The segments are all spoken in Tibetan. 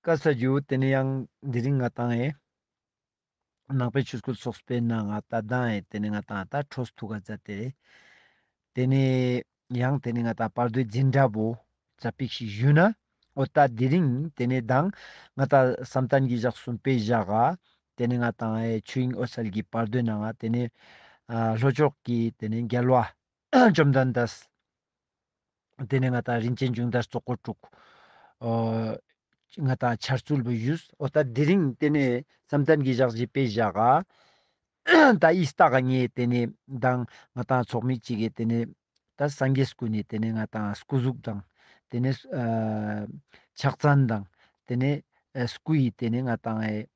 བཀའ་སྩལ་རྒྱུ་དེ་ནི་ཡང་འདི་རིང་ང་དང་ཨེ། ནག་པའི་ཆོས་སྐུ་སོགས་སྤེལ་ན་ང་ད་ལྡང་ཨེ་དེ་ནི་ང་དང་ད་ཁྲོ་ཐུག་ག་རྫ་དེ། དེ་ནི། ཡང་དེ་ནི་ང་དང་བར་དོའི་འཛིན་འདྲ་བོ། རྩ་པིག་ཞིག་བཞུས་ན། ཨོ་ད་དེ་རིང་དེ་ནི་ལྡང། ང་ད་བསམ་གཏན་གྱི་བཞག་གསུམ་སྤེལ་བཞག་ཨ། དེ་ནི་ང་དང་ཨེ་ཆོས་དབྱིངས་ཨོ་གསལ་གྱི་བར་དོའི་ནང་ཨ་དེ་ནི། ལྷོ་ཕྱོགས་ཀྱི་དེ་ནི་རྒྱལ་བ། བཅོམ་ལྡན་འདས། དེ་ནས་ང་ད་རིན་ཆེན་འབྱུང་ལྟར་ཙོག་པོར་སྤྲུག། ང་ད་ཆར་ཚུལ་བུ་ཡུས། ཨོ་ད་དེ་རིང་དེ་ནས་བསམ་གཏན་གྱི་ཞག་བཞི་པའི་བཞག། ད་ཨི་སྟག་གི་ངས་དེ་ནས་དང་ང་ད་ཚོགས་མི་གཅིག་གིས་དེ་ནས། ད་སངས་རྒྱས་སྐུ་ནས་དེ་ནས་ང་ད་སྐུ་གཟུགས་དང། དེ་ནས། ཕྱག་མཚན་དང། དེ་ནས། སྐུ་ཡིས་དེ་ནས་ང་ད་ངས།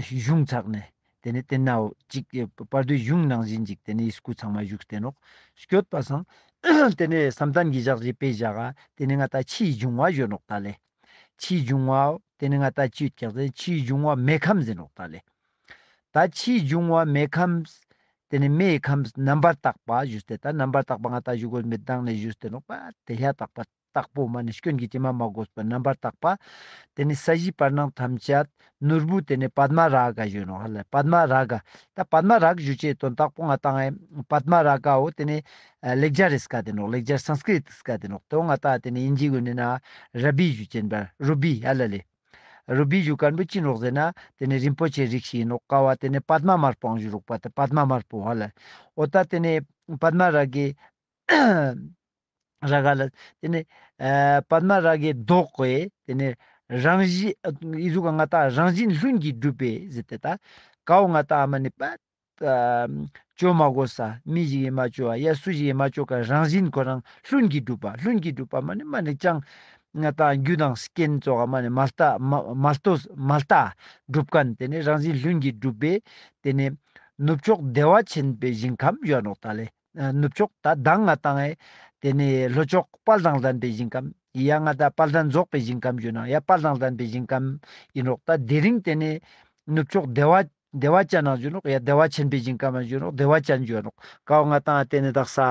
གཞུང་ཚགས་ནས་དེ་ནས་བསྟན་ནའོ། ཅིག། བར་དོའི་གཞུང་ནང་བཞིན་ཅིག་དེ་ནས་ཡིད་སྐུལ་ཚང་མ་བཞུགས་བསྟན་རོགས། བསྐྱོད་པ་བཟང། དེ་ནས་བསམ་གཏམ་གྱི་བཞག་བཞེས་དཔེ་བཞག་ཨ། དེ་ནས་ང་ལྟ་ཕྱི་ཡི་འབྱུང་བ་གཞོན་རོགས་ད་ལེ། ཕྱི་ཡི་འབྱུང་བའོ། དེ་ནས་ང་ལྟ་ཕྱི་ཡི་སྐྱག་ཟན་ཕྱི་ཡི་འབྱུང་བ་མེ་ཁམས་ཟིན་རོགས་ད་ལེ། ད་ཕྱི་ཡི་འབྱུང་བ་མེ་ཁམས། དེ་ནས་མེ་ཡི་ཁམས་རྣམ་པར་དག་པ་བཞུགས་བསྟན་ད་རྣམ་པར་དག་པ་ང་ལྟ་བཞུགས་གོ་མེད་དང་ནས་བཞུགས་བསྟན་རོགས། དེ་ཤ་དག་པ། དྭགས་པོ་མ་ནི་སྐྱོན་གྱི་སྐྱེལ་མ་མ་བགོས་པར་རྣམ་པར་དག་པ། དེ་ནི་ས་གཞིའི་བར་སྣང་ཐམས་ཅད། ནོར་བུ་དེ་ནི་པདྨ་རཱ་ག་གཞོན་ནོ། པདྨ་རཱ་ག། ད་པདྨ་རཱ་ག་བཞུ་བཅས་དོན་དྭགས་པོ་ལྔ་དང་ཨེ། པདྨ་རཱ་གའོ་དེ་ནི། ལེགས་སྦྱར་རེས་འགའ་དེ་ནོག་ལེགས་སྦྱར Sanskrit འགའ་དེ་ནོག་དོན་ལྔ་དག་དེ་ནི་དབྱིན་ཇིའི་དགོན་ནི་ན། Ruby བཞུ་ཅན་པར Ruby ཧ་ལ་ལི། Ruby བཞུ་དཀར་པོའི་སྤྱིན་རོགས་ཟེར་ན། དེ་ནི་རིན་པོ་ཆེའི་རིགས་ཤིག་ཡིན་ནོག་ཀ་བ་དེ་ནི་པདྨ་དམར་པོའང་བཞུ་རོགས་པ་དེ་པདྨ་དམར་པོ་ཧ་ལ། འོ་ད་དེ་ནི། པདྨ་རཱ་གའི། རཱ་ག་ལ། དེ་ནས་པདྨ་རཱ་གའི་མདོག་གི། དེ་ནས་རང་བཞིན། ཨི་གཟུགས་ལྔ་དག་རང་བཞིན་ལྷུན་གྱིས་གྲུབ་པའི་གཟི་དེ་དག། གའུ་ལྔ་དག་མ་ནི་པདྨ། ཅོ་མ་གོ་ས་མི་ཞིག་ཡེ་མ་ཅོ་བ་ཡ་སུ་ཞིག་ཡེ་མ་ཅོ་ག་རང་བཞིན་ཁོ་རང་ལྷུན་གྱིས་གྲུབ་པ་ལྷུན་གྱིས་གྲུབ་པ་མ་ནི་མ་ནི་སྤྱང། ལྔ་དག་རྒྱུ་དང་རྐྱེན་སྩོགས་ག་མ་ནི་མ་ལྟ། མ་ལྟོ་མ་ལྟ། སྒྲུབ་ཀ་ནི་དེ་ནས་རང་བཞིན་ལྷུན་གྱིས་གྲུབ་པའི། དེ་ནས་ནུབ་ཕྱོགས་བདེ་བ་ཆེན་པོའི་ཞིང་ཁམས་གཡོན་ལོགས་དག་ལས། ནུབ་ཕྱོགས་ད་ལྡང་ང་དང་ཨེ། དེ་ནས་ལྷོ་ཕྱོགས་དཔལ་དང་ལྡན་པའི་ཞིང་ཁམས། ཡི་ཡ་ང་ད་དཔལ་ལྡན་རྫོགས་པའི་ཞིང་ཁམས་ཡོད་ན་ཡ་དཔལ་དང་ལྡན་པའི་ཞིང་ཁམས་ཡིན་རོགས་ད་དེ་རིང་དེ་ནས། ནུབ་ཕྱོགས་བདེ་བ། བདེ་བ་ཅན་ན་ཡོད་རོགས་ཡ་བདེ་བ་ཆེན་པའི་ཞིང་ཁམས་ཡང་ཡོད་རོགས་བདེ་བ་ཅན་ཡོད་རོགས་ཀའོ་ང་དང་ཨེ་དེ་ནས་དག་ས།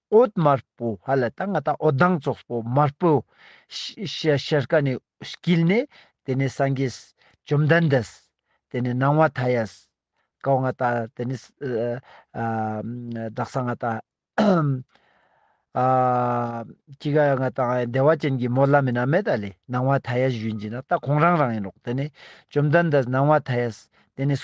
འོད་དམར་པོ་ཧ་ལ་ད་ང་ད་འོད་མདངས་ཙོགས་པོ་དམར་པོ། ཤར་ཀ་ནས་བསྐྱིལ་ནས་དེ་ནས་སངས་རྒྱས། བཅོམ་ལྡན་འདས། དེ་ནས་སྣང་བ་མཐའ་ཡས། ཀའོ་ང་ད་དེ་ནས། བདག་ས་ང་ད། སྐྱི་ཀ་ང་ད་བདེ་བ་ཅན་གྱི་མོ་བླ་མེད་ན་མེད་ད་ལས་སྣང་བ་མཐའ་ཡས་བཞུད་འབྱིན་ན་ད་ཁོང་རང་རང་ཡིན་ནོ་དེ་ནས་བཅོམ་ལྡན་འདས་སྣང་བ་མཐའ་ཡས་དེ་ནས།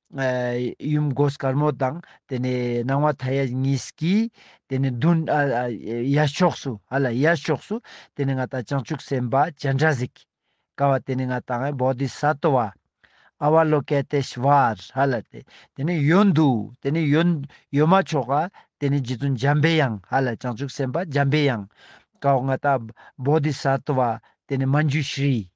ཡུམ་སྒོ་དཀར་མོ་དང་དེ་ནས་སྣང་བ་མཐའ་ཡས་གཉིས་ཀྱིས་དེ་ནས་མདུན་ཡར་ཕྱོགས་སུ་ཧ་ལ་ཡར་ཕྱོགས་སུ་དེ་ནས་ང་དང་བྱང་ཆུབ་སེམས་དཔའ་སྤྱན་དྲངས་གཟིགས། ཀ་བ་དེ་ནས་ང་དང་བོ་དྷི་ས་ཏོ་བ། ཨ་བ་ལོ་ཀེ་ཏེ་ཤ་བཱར་ཧ་ལ་ཏེ་དེ་ནས་ཡོན་དུ་དེ་ནས་ཡོན་ཡོན་མ་མཆོག་ག་དེ་ནས་རྗེ་བཙུན་འཇམ་པའི་དབྱངས་ཧ་ལ་བྱང་ཆུབ་སེམས་དཔའ་འཇམ་པའི་དབྱངས། ཀ་བ་ང་དང་བོ་དྷི་ས་ཏོ་བ་དེ་ནས་མ་མཇུག་ཤྲཱི།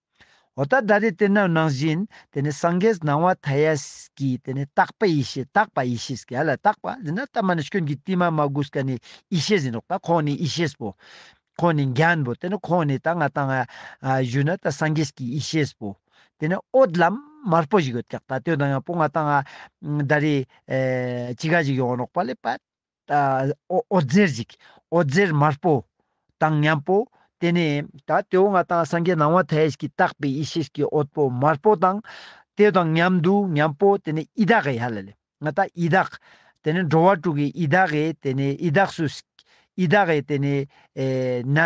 འོ་ད་ལྟ་དེ་དེ་ནང་ནང་བཞིན་དེ་ནས་སངས་རྒྱས་སྣང་བ་མཐའ་ཡས་ཀྱི་དེ་ནས་རྟག་པ་ཡེ་ཤེས་རྟག་པ་ཡེ་ཤེས་ཀྱི་ལ་རྟག་པ་འདི་ན་ལྟ་མ་ནས་སྐྱོན་གྱི་ཏིལ་མ་མ་དགུ་སྐྱ་ནི་ཡེ་ཤེས་ཟིན་རོགས་ད་ཁོང་ནི་ཡེ་ཤེས་པོ། ཁོང་ནི་རྒྱན་པོ་དེ་ནི་ཁོང་ནི་ད་ང་དང་གཞུ་ན་ད་སངས་རྒྱས་ཀྱི་ཡེ་ཤེས་པོ། དེ་ནས་ཨོད་ལམ་དམར་པོ་ཞིག་ཡོད་ཀྱག་ད་དོན་དང་ཡང་པོ་ང་དང་ད་རེས་ཅི་ག་ཞིག་ཡོང་རོགས་པ་ལེ་པད། ཨོ་རྩེར་གཟིགས། ཨོ་རྩེར་དམར་པོ། དང་མཉམ་པོ། དེ་ནས་ད་ལྟའི་འོད་ལྔ་དང་སངས་རྒྱས་སྣང་བ་དལ་གྱིས་བརྟགས་པའི་ཡེ་ཤེས་ཀྱི་འོད་པོ་དམར་པོ་དང། དེ་དང་མཉམ་དུ་མཉམ་པོ་དེ་ནས་ཨི་དྭགས་ཡྃ་ལ་ལས། ང་ད་ཨི་དྭགས། དེ་ནས་འགྲོ་བ་དྲུག་གི་ཨི་དྭགས་ཡས་དེ་ནས་ཨི་དྭགས་སུ། ཨི་དྭགས་ཡས་དེ་ནས། ན།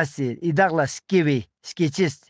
ཨི་དྭགས་ལ་སྐྱེ་བའི་སྐྱེ་མཆེད།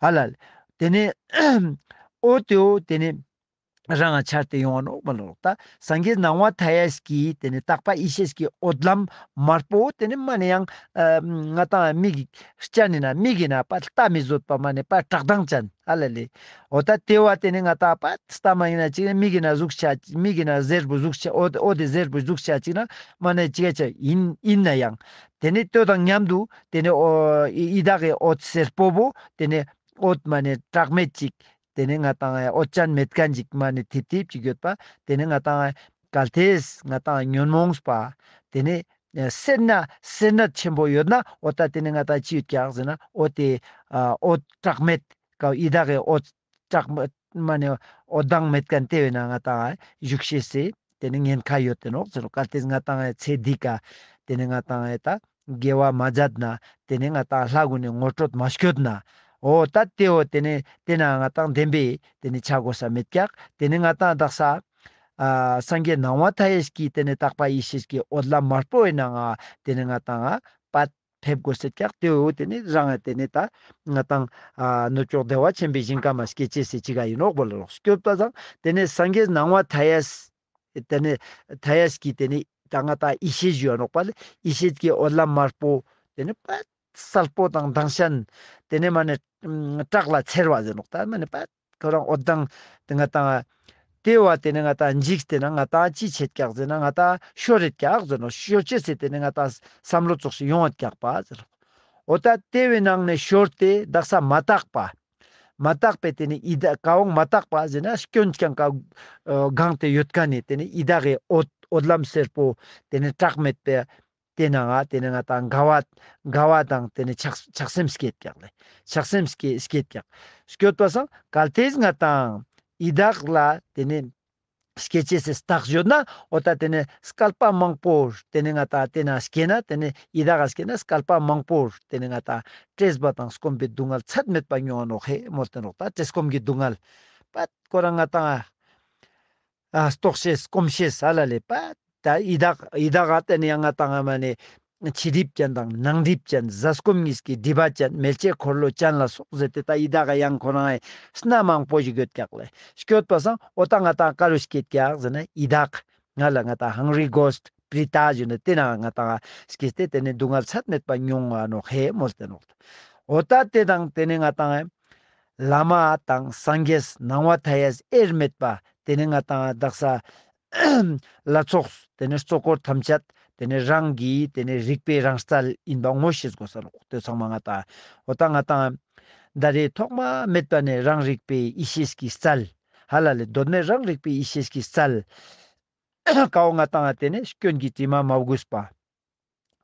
ཨ་ལ། དེ་ནས། ཨོ་ཏོའོ་དེ་ནས། རང་ངང་འཆར་ཏེ་ཡོང་བ་ནོག་པ་ལོག་ལྟ་སངས་རྒྱས་སྣང་བ་མཐའ་ཡས་ཀྱི་དེ་ནས་རྟག་པ་ཡེ་ཤེས་ཀྱི་འོད་ལམ་དམར་པོ་དེ་ནས་མ་ནས་ཡང། ང་དང་མིག་གི་སྤྱན་ནས་ན་མིག་གི་ན་པ་ལྟ་མི་བཟོད་པ་མ་ནས་པ་བཀྲག་མདངས་ཅན་ཨ་ལ་ལས། ཨོ་ད་དེ་བ་དེ་ནས་ང་དང་པ་ལྟ་མ་ཡིན་ན་ཅིག་ན་མིག་གི་ན་གཟུགས་ཆ་མིག་གི་ན་གཟེར་བུ་གཟུགས་ཆ་ཨོ་དེ་གཟེར་བུའི་གཟུགས་ཆ་ཅིག་ན་མ་ནས་ཅིག་ཡིན་ཡིན་ན་ཡང། དེ་ནས་སྟོད་དང་མཉམ་དུ་དེ་ནས་ཨི་དག་གི་འོད་ཟེར་སྤོ་བོ་དེ་ནས་འོད་མ་ནས་གྲགས་མེད་ཅིག་དེ་ནས་ང་དང་འོད་ཅན་མེད་དཀའ་འཇིགས་མ་ནས་ཐིབ་ཐིབ་ཅིག་ཡོད་པ་དེ་ནས་ང་དང་གལ་ཏེས་ང་དང་ཉོན་མོངས་པ་དེ་ནས་སེར་སྣ་སེར་སྣ་ཆེན་པོ་ཡོད་ན་འོད་དང་དེ་ནས་ང་དང་ཅི་ཡོད་ཀྱང་ཟེར་ན་འོད་དེ་འོད་གྲགས་མེད་དཀའ་ཨི་དག་གི་འོད། སྐྲག་མི་སྨྲ་ནས་འོ་སྡང་མེད་གན་དེ་བས་ན་ང་དང་བཞུགས་ཤེས་སེ། དེ་ནི་ཉེན་ཁ་ཡོད་དེ་ནོག་ཚོར་བཀའ་སྟེ་ང་དང་ཚེ་སྡིག་ག། དེ་ནི་ང་དང་ད་དགེ་བ་མ་སྦྱད་ན། དེ་ནི་ང་དང་ལྷ་དགོན་ནས་ངོ་སྤྲོད་མ་བྱོད་ན། འོ་ད་དེའོ་དེ་ནི་དེ་ན་ང་དང་ལྡན་པས་དེ་ནི་ཆ་བགོ་ས་མེད་ཀྱག་དེ་ནི་ང་དང་བདག་ས། སངས་རྒྱས་སྣང་བ་མཐའ་ཡས་ཀྱིས་དེ་ནི་དག་པ་ཡེ་ཤེས་ཀྱི་འོད་ལ་མ་སྤྲོ་བས་ན་ང་དེ་ནི་ང་དང་བདག། ཕེབས་དགོས་སེ་སྐྱག་དེ་འོ་དེ་ནི་རང་ཨ་དེ་ནི་ད། ང་དང། ནུ་ཅོག་བདེ་བ་ཆེན་པོའི་ཞིང་ཀ་མ་སྐྱེ་ཆེ་སེ་ཅི་ག་ཡིན་ནོག་པོ་ལ་ལོགས་སུ་སྐྱོད་པ་དང་དེ་ནི་སངས་རྒྱས་སྣང་བ་དྷ་ཡས། དེ་ནི་དྷ་ཡས་ཀྱི་དེ་ནི་ད་ང་ད་ཡེ་ཤེས་བཞུ་བ་ནོག་པ་ལ་ཡེ་ཤེས་ཀྱི་འོད་ལམ་དམར་པོ། དེ་ནི་པད་གསལ་པོ་དང་མདངས་ཞན། དེ་ནི་མ་ནི། བཀྲག་ལ་འཚེར་བ་ཟེ་ནོག་ད་མ་ནི་པད། ཁོ་རང་འོ་དང། དེ་ང་དང། དེ་བ་དེ་ནི་ང་དང་འཇིགས་དེ་ན་ང་དང་ཅི་བྱེད་སྐྱག་ཟེར་ན་ང་དང་ཤོ་རེད་སྐྱག་ཟེར་ནོ་ཤོ་ཅི་ཟེར་དེ་ནི་ང་དང་བསམ་བློ་བཙོག་ཤི་ཡོང་ཨ་སྐྱག་པ་ཟེར་རོ། འོ་ད་ལྟེ་བའི་ནང་ནས་ཤོར་ཏེ་བདག་ས་མ་བཏགས་པ། མ་བཏགས་པས་དེ་ནི་ཨི་ད་ག་འོང་མ་བཏགས་པ་ཟེར་ན་སྐྱོན་ཀྱང་ག་གང་དེ་ཡོད་ག་ནས་དེ་ནི་ཨི་ད་གའི་འོ་འོ་ལམ་སེར་པོ་དེ་ནི་བཀྲག་མེད་པའི་དེ་ནི་ང་དེ་ནི་ང་དང་འགལ་བ། འགལ་བ་དང་དེ་ནི་ཆགས་ཆགས་སེམས་སྐྱེད་རྒྱག་ལས། ཆགས་སེམས་སྐྱེད་སྐྱེད་རྒྱག། སྐྱོད་པ་སང་གལ་དེས་ང་དང། ཡི་དྭགས་ལ་དེ་ནི། སྐྱེད་བྱེད་སེ་སྟག་བཞོན་ན་འོ་ད་དེ་ནི་སྐལ་པ་མང་པོར་དེ་ནི་ང་དང་དེ་ན་སྐྱེད་ན་དེ་ནི་ཡི་དྭགས་ལ་སྐྱེད་ན་སྐལ་པ་མང་པོར་དེ་ནི་ང་དང། བཀྲེས་པ་དང་སྐོམ་པའི་སྡུག་བསྔལ་ཚད་མེད་པ་མྱོང་བ་ནོ་ཧེ་མོ་དེ་ནོག་ད་བཀྲེས་སྐོམ་གྱི་སྡུག་བསྔལ། པད་དཀོར་ར་ང་དང། རྟོག་བྱེད་སྐོམ་བྱེད་ས་ལ་ལས་པདྨ་ཡི་དྭགས་ཡི་དྭགས་ལ་བརྟེན་ནས་སྔ་དང་སྔ་མ་ནས་ཕྱི་སྒྲིབ་ཅན་དང་ནང་སྒྲིབ་ཅན་གཟའ་སྐོམ་གཉིས་ཀྱི་སྒྲིབ་པ་ཅན་མེ་ལྕེ་འཁོར་ལོ་ཅན་ལ་སོགས་ཟེར་ཏེ་ད་ཡི་དྭགས་ཀྱི་གཡང་འཁོར་ནའི་སྣ་མང་པོ་ཞིག་ཡོད་ཀྱག་ལས་སྐྱོད་པ་སངས་ཨོ་ད་ང་དང་ཀ་རུ་སྐྱེས་ཀྱག་ཟེར་ན་ཡི་དྭགས་ང་ལ་ང་ད Hungry Ghost པའི་རྟགས་བཞིན་དུ་དེ་རྣམས་ལྔ་དང། སྐྱེས་ཏེ་དེ་ནི་སྡུག་བསྔལ་ཚད་མེད་པ་མྱོང་བ་ནོ་ཧེ་མོ་སྟེ་ནོ། འོ་ད་དེ་དང་དེ་ནི་ལྔ་དང། བླ་མ་དང་སངས་རྒྱས་སྣང་བ་མཐའ་ཡས་དབྱེར་མེད་པ་དེ་ནི་ལྔ་དང། བདག་ས་བླ་ཚོགས་དེ་ནི་གཙོ་འཁོར་ཐམས་ཅད་དེ་ནི་རང་གི་དེ་ནི་རིག་པའི་རང་རྩལ་ཡིན་པ་ངོ་ཤེས་དགོས་སོ་ལོག་ལྟོས་ཚང་མ་ལྔ་དང། འོ་ད་ལྔ་དང། འདའ་རེས་ཐོག་མ་མེད་པ་ནི་རང་རིག་པའི་ཡེ་ཤེས་ཀྱི་རྩལ། ཧ་ལ་ལས་གདོད་མའི་རང་རིག་པའི་ཡེ་ཤེས་ཀྱི་རྩལ། ཁའོ་ང་བཏང་བ་དེ་ནས་སྐྱོན་གྱི་དྲི་མ་མ་བསྒུས་པ།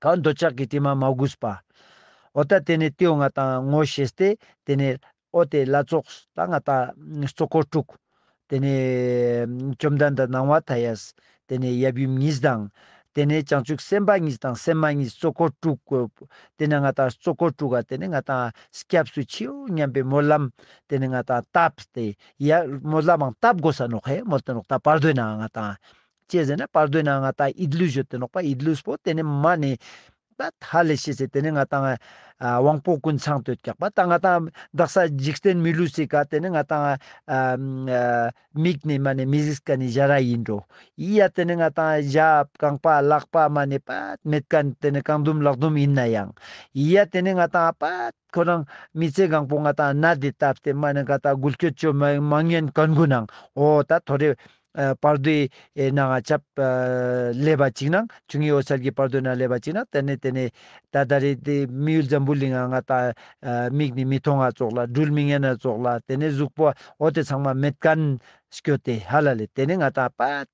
ཁའོ་འདོད་ཆགས་ཀྱི་དྲི་མ་མ་བསྒུས་པ། འོ་ད་དེ་ནས་ཏིའོ་ང་བཏང་བ་ངོ་ཤེས་ཏེ་དེ་ནས་ཨོ་དེ་བླ་རྫོགས་ད་ང་ད་གཙོ་འཁོར་དྲུག། དེ་ནས་བཅོམ་ལྡན་འདས་སྣང་བ་དྷ་ཡས་དེ་ནས་ཡབ་ཡུམ་གཉིས་དང། དེ་ནས་བྱང་ཆུབ་སེམས་དཔའ་གཉིས་དང་སེམས་མ་གཉིས་གཙོ་འཁོར་དྲུག། དེ་ནས་ང་དང་གཙོ་འཁོར་དྲུག་ག་དེ་ནས་ང་དང་སྐྱབས་སུ་མཆིའོ་སྙམ་པའི་སྨོན་ལམ་དེ་ནས་ང་དང་བཏབ་སྟེ་ཡ། མོ་ལ་མང་སྟབས་དགོས་ས་ནོག་ཧེ་མོ་དེ་ནོག་ད་པར་སྡོད་ནའང་ང་དང། ཅེས་ཟེར་ན་པར་སྡོད་ནའང་ང་དང་ཨིད་ལུས་བྱོས་དེ་ནོག་པ་ཨིད་ལུས་པོ་དེ་ནི་མ་ནི། ད་ད་ལས་ཤེས་ཚེ་དེ་ནི་ང་དང། དབང་པོ་ཀུན་ཚང་དོད་རྒྱག་པ་ད་ང་དང་བདག་ས་འཇིག་རྟེན་མི་ལུས་སྲིད་ག་དེ་ནི་ང་དང། མིག་ནི་མ་ནི་མི་གཟིགས་ཀ་ནི་བཞའ་ར་ཡིན་འགྲོ། ཡི་ཡ་དེ་ནི་ང་དང་བཞའ་རྐང་པ་ལག་པ་མ་ནི་པད་མེད་ཀ་དེ་ནི་རྐང་ཟླུམ་ལག་ཟླུམ་ཡིན་ན་ཡང། ཡི་ཡ་དེ་ནི་ང་དང་པད། ཁོ་རང་མི་ཚེ་གང་པོ་ང་དང་གནའ་དེ་ལྟ་བསྟན་མ་ནི་ག་དག་འགུལ་སྐྱོད་བཅོས་མ་མ་ངན་གར་འགུལ་ནང་འོ་ད་དོ་རེ། བར་དོའི་ནང་ཨ་ཆབ་ཀླད་པ་གཅིག་ནང་བྱུང་ངའི་འོ་ཆལ་གྱི་བར་དོའི་ནང་ཀླད་པ་གཅིག་ནང་དེ་ནས་དེ་ནས་ད་ད་རེ་དེ་མི་ཡུལ་འཛམ་བུ་གླིང་ང་ང་ད་མིག་ནི་མི་མཐོང་ང་ཙོག་ལ་སྦྲུལ་མི་ངན་ང་ཙོག་ལ་དེ་ནས་གཟུགས་པོ་འོ་དེ་ཚང་མ་མེད་ག་ནས་སྐྱོ་སྟེ་ཧ་ལ་ལས་དེ་ནས་ང་དང་པད།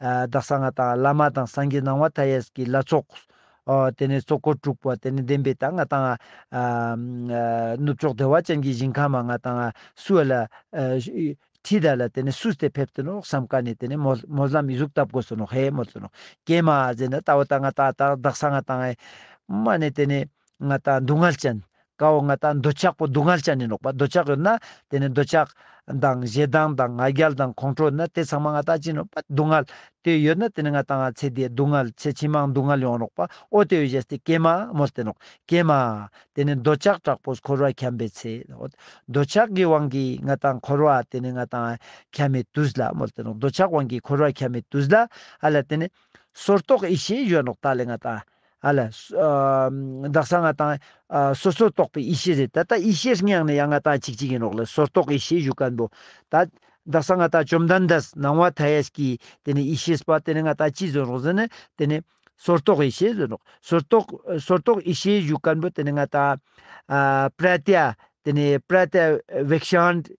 བདག་གསང་སྔགས་དང་བླ་མ་དང་སངས་རྒྱས་སྣང་བ་མཐའ་ཡས་ཀྱི་བླ་ཚོགས། དེ་ནས་གཙོ་འཁོར་དྲུག་པ་དེ་ནས་བདེན་པའི་དང་ང་དང། ནུབ་ཕྱོགས་བདེ་བ་ཅན་གྱི་ཞིང་ཁམས་པ་ང་དང། སུ་ལ། ཁྲི་དར་ལ་དེ་ནས་སུ་སྟེ་ཕེབས་དོ་ནོ་བསམ་དཀའ་ནས་དེ་ནས་མོ་བསླམ་མི་གཟུགས་བཏབ་གོ་སོ་ནོ་ཧེ་མོ་ཙོ་ནོ། ཀྱེ་མ། ཛེ་ན་ལྟ་བ་དང་ང་དང་བདག་གསང་སྔགས་དང། མ་ནས་དེ་ནས་ང་དང་སྡུག་བསྔལ་ཅན། དགའ་བོ་ང་དང་འདོད་ཆགས་པོ་སྡུག་བསྔལ་བྱ་ནི་ནོག་པ་འདོད་ཆགས་ཡོད་ན་དེ་ནི་འདོད་ཆགས་དང་ཞེ་སྡང་དང་ང་རྒྱལ་དང་ཁོང་ཁྲོ་ཡོད་ན་དེ་ཚང་མ་ང་དང་ཅི་ནོག་པ་སྡུག་བསྔལ་དེ་ཡོད་ན་དེ་ནི་ང་དང་ང་ཚེ་འདིའི་སྡུག་བསྔལ་ཚེ་ཕྱི་མའང་སྡུག་བསྔལ་ཡོང་ནོག་པ་ཨོ་དེ་བས་གཞན་སྟེ་ཀྱེ་མ་མོ་སྟེ་ནོག་ཀྱེ་མ། དེ་ནི་འདོད་ཆགས་དྲག་པོས་འཁོར་བར་འཁྱམས་པའི་ཚེ་ཨོ། འདོད་ཆགས་ཀྱི་དབང་གིས་ང་དང་འཁོར་བ་དེ་ནི་ང་དང་འཁྱམས་མའི་དུས་ལ་མོ་སྟེ་ནོག་འདོད་ཆགས་དབང་གིས་འཁོར་བར་འཁྱམས་མའི་དུས་ལ་ཨ་ལ་དེ་ནི་སོར་རྟོག་ཡེ་ཤེས་གཞོན་ནོག་ད་ལས་ང་དང་ཨ་ལ། བདག་ས་ང་དང། སོ་སོར་རྟོག་པའི་ཡེ་ཤེས་རེད་ད་ལྟ་ཡེ་ཤེས་རེ་སྙེགས་ནས་ཡང་ང་དང་ཅིག་ཅིག་ཡིན་རོགས་ལ་སོར་རྟོག་ཡེ་ཤེས་བཞུགས་དཀའ་འདུག་ད། བདག་ས་ང་དང་བཅོམ་ལྡན་འདས་སྣང་བ་མཐའ་ཡས་ཀྱིས་དེ་ནས་ཡེ་ཤེས་པ་དེ་ནས་ང་དང་ཅིག་བཟོས་རོགས་ཟེར་ནས་དེ་ནས། སོར་རྟོག་ཡེ་ཤེས་བཟོས་རོགས་སོར་རྟོག་སོར་རྟོག་ཡེ་ཤེས་བཞུགས་དཀའ་འདུག་དེ་ནས་ང་དང། པྲ་ཏཱི། དེ་ནས་པྲ་ཏཱི། བེག་ཤཱནྟི།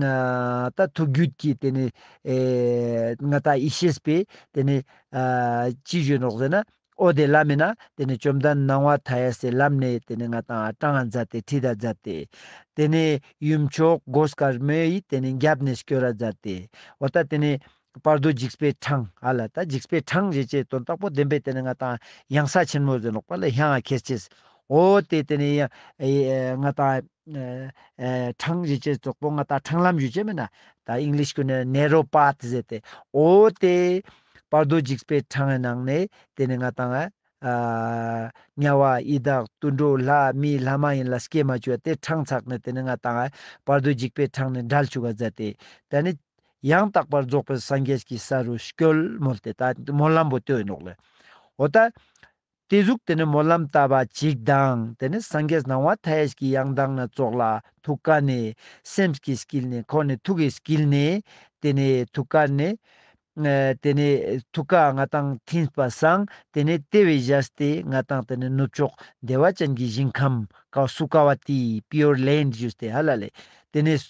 ང་ད་ཐུག་རྒྱུད་ཀྱི་དེ་ནས་ང་ད་ཡེ་ཤེས་པས་དེ་ནས་ཅི་བརྗོད་ནོ་ཟེར་ན། ཨོ་དེ་བླ་མེད་ན་དེ་ནས་བཅོམ་ལྡན་སྣང་བ་མཐའ་ཡས་སའི་ལམ་ནས་དེ་ནས་ང་ད་སྤྲང་ང་མཛད་དེ་ཁྲི་ད་མཛད་དེ། དེ་ནས་ཡུམ་མཆོག་སྒོ་སྐར་མོ་ཡིས་དེ་ནས་རྒྱབ་ནས་སྐྱོ་ར་མཛད་དེ། འོ་ད་དེ་ནས་བར་དོའི་འཇིགས་པའི་འཕྲང་ཨ་ལ་ད་འཇིགས་པའི་འཕྲང་ཞེས་བྱའི་དོན་རྟག་པོ་བདེན་པས་དེ་ནི་ང་དང་ཡང་ས་ཆེན་མོ་ཟིན་ལོག་པ་ལ་ཧྱ་ང་ཁེར་སྐྱེས་ཨོ་དེས་དེ་ནི་ཡང་ང་དང་འཕྲང་ཞེས་བྱའི་གཙོག་པོ་ང་དང་འཕྲང་ལམ་ཞེས་བྱའི་མེད་ན་ད English ཀུན་ནས Narrow Path ཟེར་ཏེ་ཨོ་དེ་བར་དོའི་འཇིགས་པའི་འཕྲང་ཨའི་ནང་ནས་དེ་ནི་ང་དང་དམྱལ་བ་ཡི་དྭགས་དུད་འགྲོ་ལྷ་མི་ལྷ་མ་ཡིན་ལ་སྐྱེས་མ་བྱུང་བ་དེ་འཕྲང་ཚགས་ནས་དེ་ནི་ང་དང་བར་དོའི་འཇིགས་པའི་འཕྲང་ནི་འདྲལ་བཅུག་ག་ཛ་དེ་ད་ནི། ཡང་དག་པར་རྫོགས་པའི་སངས་རྒྱས་ཀྱི་ས་རུ་སྐྱོལ། མོལ་དེ་ལྟ་བུ་སྨོན་ལམ་བུ་སྟོད་ནོག་ལས། འོ་ད། དེ་གཟུགས་དེ་ནི་སྨོན་ལམ་བཏབ་པ་གཅིག་དང་དེ་ནི་སངས་རྒྱས་སྣང་བ་མཐའ་ཡས་ཀྱི་ཡང་དག་ན་རྫོགས་ལ་ཐུགས་ཀ་ནས་སེམས་ཀྱི་བསྐྱིལ་ནས་ཁོ་ནས་ཐུགས་ཀྱི་བསྐྱིལ་ནས་དེ་ནས་ཐུགས་ཀ་ནས། དེ་ནས་ཐུགས་ཀ་ང་དང་མཐུན་པ་སངས་དེ་ནས་ལྟེ་བའི་གཞལ་སྟེ་ང་དང་དེ་ནས་ནུབ་ཕྱོགས་བདེ་བ་ཅན་གྱི་ཞིང་ཁམས་ཀ་སུ་ཀ་བ་ཏི Pure Land Juice དེ་ཧ་ལ་ལས་དེ་ནས།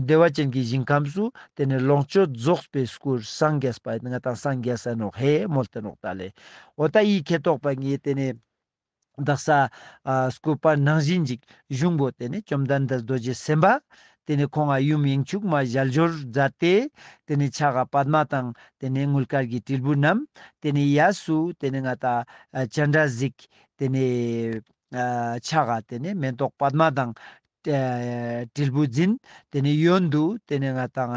བདེ་བ་ཅན་གྱི་ཞིང་ཁམས་སུ་དེ་ནས་ལོངས་སྤྱོད་རྫོགས་པའི་སྐུར་སངས་རྒྱས་པ་ང་དང་སངས་རྒྱས་སེ་ནོ་ཧེ་མོལ་ཏེ་ནོག་ཏཱ་ལའི་འོ་ད་ཡིག་ཁེ་དོག་པ་ངས་དེ་ནས། བདག་ས་སྐུ་པར་སྣང་བཞིན་འཇིག། གཞུང་པོ་དེ་ནས་བཅོམ་ལྡན་འདས་རྡོ་རྗེ་སེམས་དཔའ། དེ་ནས་ཁོང་ཨ་ཡུམ་དབྱིངས་ཕྱུག་མ་བཞལ་སྦྱོར་མཛད་དེ། དེ་ནས་ཕྱག་ག་པདྨ་དང་དེ་ནས་དངུལ་དཀར་གྱི་དྲིལ་བུ་བསྣམས། དེ་ནས་གཡས་སུ་དེ་ནས་ང་དང་སྤྱན་སྒྲ་གཟིགས། དེ་ནས། ཕྱག་ག་དེ་ནས་མེ་ཏོག་པདྨ་དང། དྲིལ་བུ་འཛིན། དེ་ནས་གཡོན་དུ་དེ་ནས་ང་དང།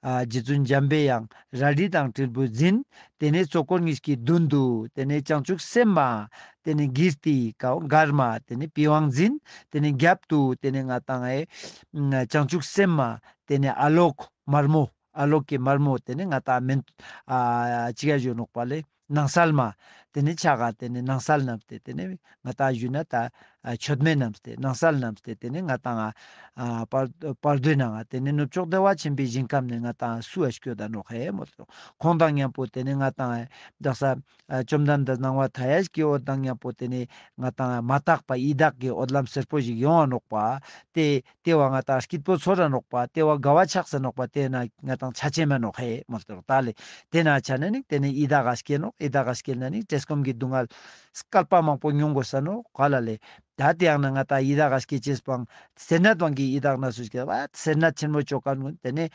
རྗེ་བཙུན་འཇམ་པའི་ཡང་རལ་གྲི་དང་དྲིལ་བུ་འཛིན། དེ་ནས་གཙོ་འཁོར་ངེས་ཀྱི་མདུན་དུ། དེ་ནས་བྱང་ཆུབ་སེམས་མ། དེ་ནས་ཀིརྟི་མགར་མ་དེ་ནས་པི་ཝང་འཛིན། དེ་ནས་རྒྱབ་ཏུ་དེ་ནས་ང་དང། བྱང་ཆུབ་སེམས་མ། དེ་ནས་ཨ་ལོག། དམར་མོ། ཨ་ལོག་གི་དམར་མོ་དེ་ནས་ང་དང། ནང་སལ་མ། དེ་ནི་ཆ་ག་དེ་ནི་ནང་སལ་རྣམས་ཏེ་དེ་ནི་ང་དང་གཞུ་ན་ད། མཆོད་མེ་རྣམས་ཏེ་ནང་སལ་རྣམས་ཏེ་དེ་ནི་ང་དང་ང། བར་དོའི་ནང་དེ་ནི་ནུབ་ཕྱོགས་བདེ་བ་ཆེན་པོའི་ཞིང་ཁམས་ནི་ང་དང་སུ་ཨ་སྐྱོ་ད་ནོ་ཧེ་མོ་ཏོ། ཁོང་དང་གཉའ་པོ་དེ་ནི་ང་དང་ཨེ། བདག་ས། བཅོམ་ལྡན་འདས་སྣང་བ་དྷ་ཡ་ཤྲཱི་ཀའི་འོད་དང་གཉའ་པོ་དེ་ནི་ང་དང་ཨེ་མ་དག་པ་ཡི་དྭགས་ཀྱི་འོད་ལམ་སེར་པོ་ཞིག་ཡོངས་བར་ནོག་པ་སྟེ། ལྟེ་བ་ང་དང་སྐྱིད་པོ་ཚོ་ར་ནོག་པ་ལྟེ་བ་དགའ་བ་ཆགས་སེ་ནོག་པ་དེ་ན་ང་དང་ཆ་ཆེན་མ་ནོག་ཧེ་མོ་ལྟེ་རོག་ད་ལེ་དེ་ན་ཆ་ན་ནིག་དེ་ནས་ཨི་ད་ག་སྐྱེལ་ནོག་ཨི་ད་ག་སྐྱེལ་ན་ནིག་བཀྲེས་སྐོམ་གི་སྡུག་བསྔལ། སྐལ་པ་མང་པོ་མྱོང་དགོས་ས་ནོག་ག་ལ་ལེ། ད་དེའང་ན་ང་དང་ཨི་ད་ག་སྐྱེལ་བྱེས་སྤང། སེར་ནད་སྤང་གི་ཨི་ད་ན་སུ་སྐྱེལ་བད་སེར་ནད་ཆེན་མོ་ཅོ་ག་ནོན་དེ་ནས།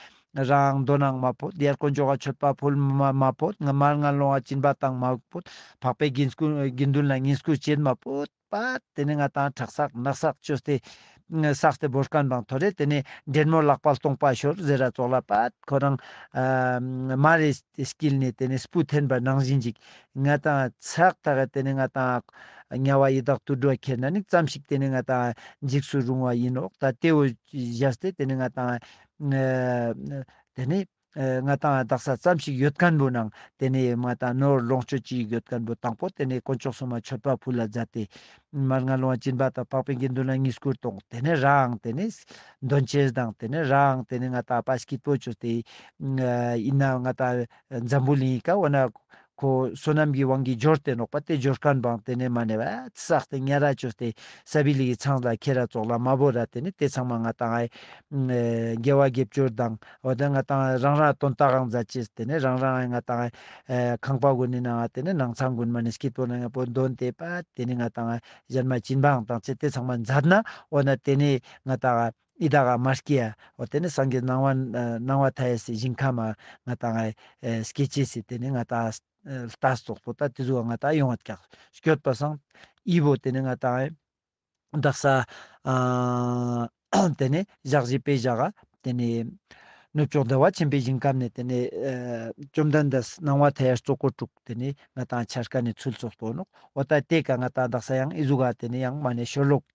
རང་མདོ་ནང་མ་ཕོད་ཡར་དཀོན་ཅོ་ག་ཆོད་པ་ཕོལ་མ་མ་ཕོད་ང་མར་ང་ལོང་བ་གྱིན་པ་དང་མ་ཕོད་འཕགས་པའི་དགེ་འདུན་ལ་ངན་སྐུལ་བྱེད་མ་ཕོད། པ། དེ་ནས་ང་དང་བྲག་སག་ནགས་སག་ཅོ་སྟེ། སག་སྟེ་བོ་སྐམ་དང་ཐོ་རེ་དེ་ནས་འདྲེན་མོ་ལག་པ་སྟོང་པ་ཞོར་ཟེར་ར་བཙོག་ལ་པ། ཁོ་རང། མ་རེ་བསྐྱིལ་ནས་དེ་ནས་སྤུ་འཐེན་པར་ནང་བཞིན་ཅིག། ང་དང་ཚག་ཐག་དེ་ནས་ང་དང། དམྱལ་བ་ཡི་དྭགས་དུར་འགྲོ་ཁྱེད་ན་ནི་བརྩམས་ཤིག་དེ་ནས་ང་དང། འཇིགས་སུ་རུང་བ་ཡིན་ནོག་ད་ལྟེའོ། བཞགས་སྟེ་དེ་ནས་ང་དང། དེ་ནས། ང་དང་རྡག་ས་ཙམ་ཞིག་ཡོད་ཀན་པོ་ནང་དེ་ནས་ང་དང་ནོར་ལོངས་སྤྱོད་ཅིག་ཡོད་ཀན་པོ་དང་པོ་དེ་ནས་དཀོན་མཆོག་སྲུང་མ་མཆོད་པ་ཕུ་ལ་བརྫ་སྟེ། མར་ང་ལོང་བྱིན་པ་དང་པགས་པའི་དགེ་འདུན་ལ་གཉིས་སྐུར་དང་དེ་ནས་རའང་དེ་ནས། འདོན་ཆེར་དང་དེ་ནས་རའང་དེ་ནས་ང་དང་པ་ཤཀིད་པོ་བྱོས་ཏེ། ཡིན་ནའང་ང་དང་འཛམ་བུ་གླིང་ཡི་ཀ་འོ་ན། ཁོ་བསོད་ནམས་ཀྱི་དབང་གིས་སྦྱོར་ཏེ་ནོག་པ་སྟེ་སྦྱོར་དཀར་འབངས་དེ་ནས་མ་ནས་བསགས་ཏེ་ངན་ར་བཅོས་ཏེ་ས་བི་ལི་ཡི་ཚང་ལ་ཁྱེད་ར་བཙོག་ལ་མ་བོ་ར་དེ་ནི་དེ་ཚང་མ་ང་དང་རྒྱལ་བ་དགེ་བཅུར་སྡང་བ་དེ་ང་དང་རང་རང་དོན་རྟགས་ཨང་རྫ་ཅེས་དེ་ནི་རང་རང་ང་དང་ཁང་པ་གུ་ནི་ན་དེ་ནི་ནང་ཚང་གུ་ནི་མ་ནི་སྐྱིད་པོ་ན་ང་པོ་འདོན་ཏེ་པ་དེ་ནི་ང་དང་གཞན་མ་བྱིན་པའང་དང་ཚེ་དེ་ཚང་མ་འཛབ་ན་འོ་ན་དེ་ནི་ང་དང། ཨི་ད་ག་མ་སྐྱེ་ཡ། ཨོ་དེ་ནི་སངས་རྒྱས་སྣང་བ། སྣང་བ་མཐའ་ཡས་སའི་ཞིང་ཁམས་མ། ང་ད་ངའི། སྐྱེ་བྱེད་སྲིད་དེ་ནི་ང་ད། ལྟ་སོགས་པོ་ད་དེ་གཟུགས་བ་ང་ད་ཡོངས་བ་ཀྱག། སྐྱོད་པ་སངས། ཨི་བོ་དེ་ནི་ང་ད་ངའི། བདག་ས། དེ་ནི་བཞག་བཞི་པའི་བཞག་ག། དེ་ནི། གནོད་ཕྱོགས་བདེ་བ་ཆེན་པོའི་ཞིང་ཁམས་ནས་དེ་ནི། བཅོམ་ལྡན་འདས་སྣང་བ་མཐའ་ཡས་གཙོ་འཁོར་དྲུག་དེ་ནི་ང་ད་ངའི་འཆར་ཀ་ནས་ཚུལ་སོགས་པོ་ནོ། ཨོ་ད་དེ་ཀ་ང་ད་བདག་ས་ཡང་ཨི་གཟུགས་བ་དེ་ནི་ཡང་མ་ནས་ཞོར་ལོག།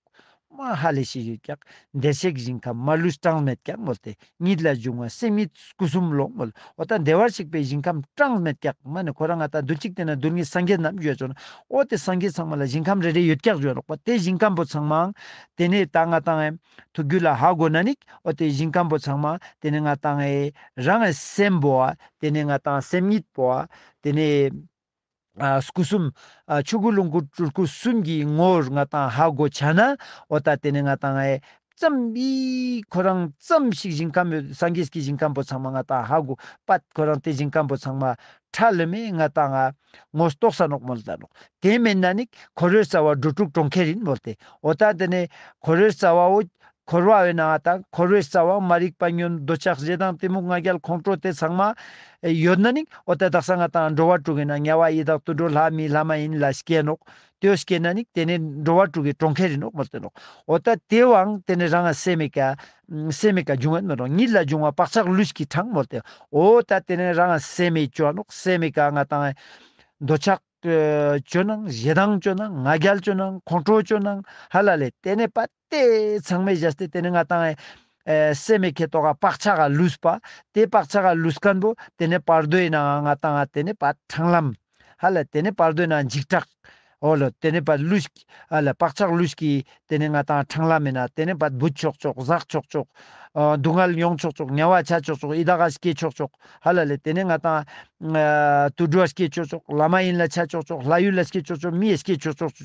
དམའ་ཧ་ལས་ཤིག་ཡོད་ཀྱང་འདས་གཤེགས་ཞིང་ཁམས་མ་ལུས་གྲངས་མེད་ཀྱང་ངོ་སྟེ་ཉིད་ལ་འབྱུང་བ་སེམས་ཉིད་སྐུ་གསུམ་ལོག་ངོ་ལོག་དང་བདེ་བར་གཤེགས་པའི་ཞིང་ཁམས་གྲངས་མེད་ཀྱང་སྨྲ་ནས་ཁོ་རང་ང་དང་དུ་གཅིག་དེ་ན་རྡུལ་སྙེད་སངས་རྒྱས་རྣམས་ཡོད་ཅོ་ན་ཨོ་དེ་སངས་རྒྱས་ཚང་མ་ལ་ཞིང་ཁམས་རེ་རེ་ཡོད་ཀྱང་ཡོད་རོགས་པ་དེ་ཞིང་ཁམས་པོ་ཚང་མའང་དེ་ནས་ད་ང་དང་ཨེ་དུ་རྒྱུ་ལ་ཧ་གོ་ན་ནི་ཨོ་དེ་ཞིང་ཁམས་པོ་ཚང་མ་དེ་ནས་ང་དང་ཨེ་རང་ཨེ་སེམས་པོ་ཨ་དེ་ནས་ང་དང་སེམས་ཉིད་པོ་ཨ་དེ་ནས་སྐུ་གསུམ། ཆོས་སྐུ་ལོངས་སྐུ་སྤྲུལ་སྐུ་གསུམ་གྱི་ངོ་བོར་ང་དང་ཧ་གོ་བྱ་ན། ཨོ་ད་དེ་ནི་ང་དང་ཧའི། ཙམ་པས། ཁོ་རང་ཙམ་ཞིག་ཞིང་ཁམས་མོད་སངས་རྒྱས་ཀྱི་ཞིང་ཁམས་པོ་ཚང་མ་ང་དང་ཧ་གོ། པད་ཁོ་རང་དེ་ཞིང་ཁམས་པོ་ཚང་མ། ཁྲ་ལི་མས་ང་དང་ཧ། ངོ་རྟོགས་ས་ནོག་མོ་ལ་ད་ནོག། དེ་མེད་ན་ནི། ཁོ་རོའི་རྩ་བ་འགྲོ་དྲུག་གྲོང་ཁྱེར་ཡིན་མོད་དེ། ཨོ་ད་དེ་ནི། ཁོ་རོའི་རྩ་བའོ། འཁོར་བ་འོད་སྣང་བ་དང་འཁོར་བའི་རྩ་བའང་མ་རིག་པ་ཉོན་རྡོ་ཆགས་བཞི་དང་གཏི་མུག་ལྔ་རྒྱལ་ཁོང་ཁྲོ་དེ་ཚང་མ། ཡོད་ན་ནི་འོ་དེ་དག་ས་ལྔ་དང་འགྲོ་བ་དྲུག་ཡིན་ན་དམྱལ་བ་ཡི་དྭགས་དུད་འགྲོ་ལྷ་མིའི་ལྷ་མ་ཡིན་ལ་སྐྱེས་ནོ། དེའོ་སྐྱེས་ན་ནི་དེ་ནི་འགྲོ་བ་དྲུག་གི་གྲོང་ཁྱེར་ཡིན་ནོ་མི་སྟོན་ནོ། འོ་ད་དེའོའང་དེ་ནི་རང་སེམས་མེད་ཀ། སེམས་མེད་ཀ་འབྱུང་བས་མི་རུང་ཉིད་ལ་འབྱུང་བ་བག་ཆགས་ལུས་ཀྱི་གྲངས་མོ་སྟེ། འོ་ད་དེ་ནི་རང་སེམས་མེད་སྐྱོན་ནོ་སེམས་མེད་ཀ་ལྔ་དང། འདོ་ཆགས། སྐྱོན་སྣང་བཞི་དང་སྐྱོན་སྣང་ལྔ་རྒྱལ་སྐྱོན་སྣང་ཁོང་ཁྲོ་སྐྱོན་སྣང་ཧ་ལ་ལས་དེ་ནས་པད། ཏེ། ཚང་མས་བཞག་སྟེ་དེ་ནི་ང་དང། ཨེ། སྲས་མེ་ཁྱེད་རྟོགས་ཀ་བག་ཆགས་ཀ་ལུས། པ་དེ་བག་ཆགས་ཀ་ལུས་སྐམ་པོ། དེ་ནི་བར་དོའི་ནང་ང་དང། ཨ་དེ་ནི་བ་འཕྲང་ལམ། ཧ་ལ་དེ་ནི་བར་དོའི་ནང་འཇིགས་སྐྲག། ཨོ་ལ་དེ་ནི་བ་ལུས། ཨ་ལ་བག་ཆགས་ལུས། ཀྱི་དེ་ནི་ང་དང་འཕྲང་ལམ་མེད་ན་དེ་ནི་བ་སྦུད་ཆོག་ཆོག་ཟག་ཆོག་ཆོག། སྡུག་བསྔལ་མྱོང་ཆོག་ཆོག་དམྱལ་བ་བྱ་ཆོག་ཆོག་ཨི་དྭགས་ཨ་སྐྱེ་ཆོག་ཆོག་ཧ་ལ་ལས་དེ་ནི་ང་དང། ཨ། དུད་འགྲོ་ཨ་སྐྱེ་ཆོག་ཆོག་ལ་མ་ཡིན་ལ་བྱ་ཆོག་ཆོག་ལྷ་ཡུལ་ཨ་སྐྱེ་ཆོག་ཆོག་མི་ཨ་སྐྱེ་ཆོག་ཆོག།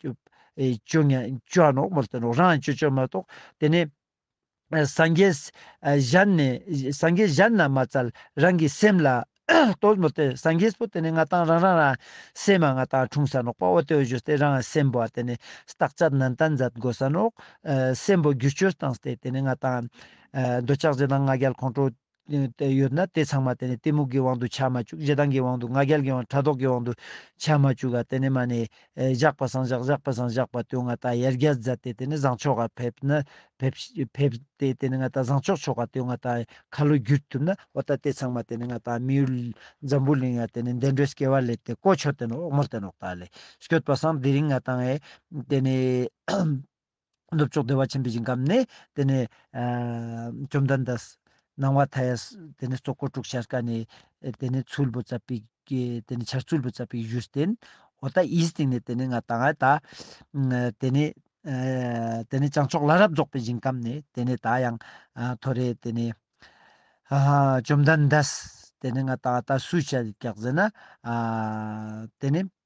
བཅོ་ལྔ་བཅོ་ཨ་ནོག་མོ་སྟེ་ནོག་རང་བཅོ་བཅོ་མ་གཏོགས་དེ་ནི། སངས་རྒྱས་གཞན་ནི་སངས་རྒྱས་གཞན་རྣམས་མ་བཙལ་རང་གི་སེམས་ལ་ལྟོས་མོ་སྟེ་སངས་རྒྱས་པོ་དེ་ནི་ང་དང་རང་རང་རང་སེམས་མ་ང་དང་འཁྲུངས་ས་ནོག་པའོ་ལྟོས་བཅོས་སྟེ་རང་སེམས་པོ་དེ་ནི་རྟག་ཆད་ནན་ཏན་མཛད་དགོས་ས་ནོག་སེམས་པོ་རྒྱུ་བཅོས་སྟངས་སྟེ་དེ་ནི་ང་དང། འདོད་ཆགས་ཅན་དང་ང་རྒྱལ་ཁོང་ཁྲོ། ཡོད་ན་དེ་ཚང་མ་དེ་ནས་གཏི་མུག་གི་དབང་དུ་བྱ་མ་བཅུག་ཞེ་སྡང་གི་དབང་དུ་ང་རྒྱལ་གྱི་དབང་ཕྲག་དོག་གི་དབང་དུ་བྱ་མ་བཅུག་ག་དེ་ནས་མ་ནས་བཞག་པ་སངས་བཞག་བཞག་པ་སངས་བཞག་པ་དོན་ང་ད་ཡར་རྒྱ་བཟའ་སྟེ་དེ་ནས་བཟང་ཕྱོགས་ག་ཕེབས་ན་ཕེབས་ཏེ་དེ་ནས་ང་ད་བཟང་ཕྱོགས་ཕྱོགས་ག་དོན་ང་ད་ཁ་ལོ་བསྒྱུར་ཐུབ་ན་འོ་ད་དེ་ཚང་མ་དེ་ནས་ང་ད་མི་ཡུལ་འཛམ་བུ་གླིང་ང་དེ་ནས་འདས་འགྲོའི་སྐྱེ་བ་ལས་དེ་ཀོ་ཆོད་དེ་ནས་འོག་མར་དེ་ནས་འོག་ད་ལས་བསྐྱོད་པ་སངས་དེ་རིང་ང་ད་ངས་དེ་ནས། ནུབ་ཕྱོགས་བདེ་བ་ཆེན་པོའི་ཞིང་ཁམས་ནས། དེ་ནས། བཅོམ་ལྡན་འདས། སྣང་བ་མཐའ་ཡས། དེ་ནས་སྲོག་འཁོར་དྲུག་ཤར་ཀ་ནས། དེ་ནས་ཚུལ་བུ་ཙྪ་བི། དེ་ནས་ཆར་ཚུལ་བུ་ཙྪ་བི་གཞུ་བསྟན། འོ་ད་ཨིའི་སྟེང་ནས་དེ་ནས་ང་ད་ངའི་ད། དེ་ནས། དེ་ནས་བྱང་ཕྱོགས་བླ་རབས་རྫོགས་པའི་ཞིང་ཁམས་ནས། དེ་ནས་ད་ཡང། ཐོ་རེ། དེ་ནས། བཅོམ་ལྡན་འདས། དེ་ནས་ང་ད་ང་ད་སུས་བྱ། བརྒྱག་ཟེར་ན། དེ་ནས།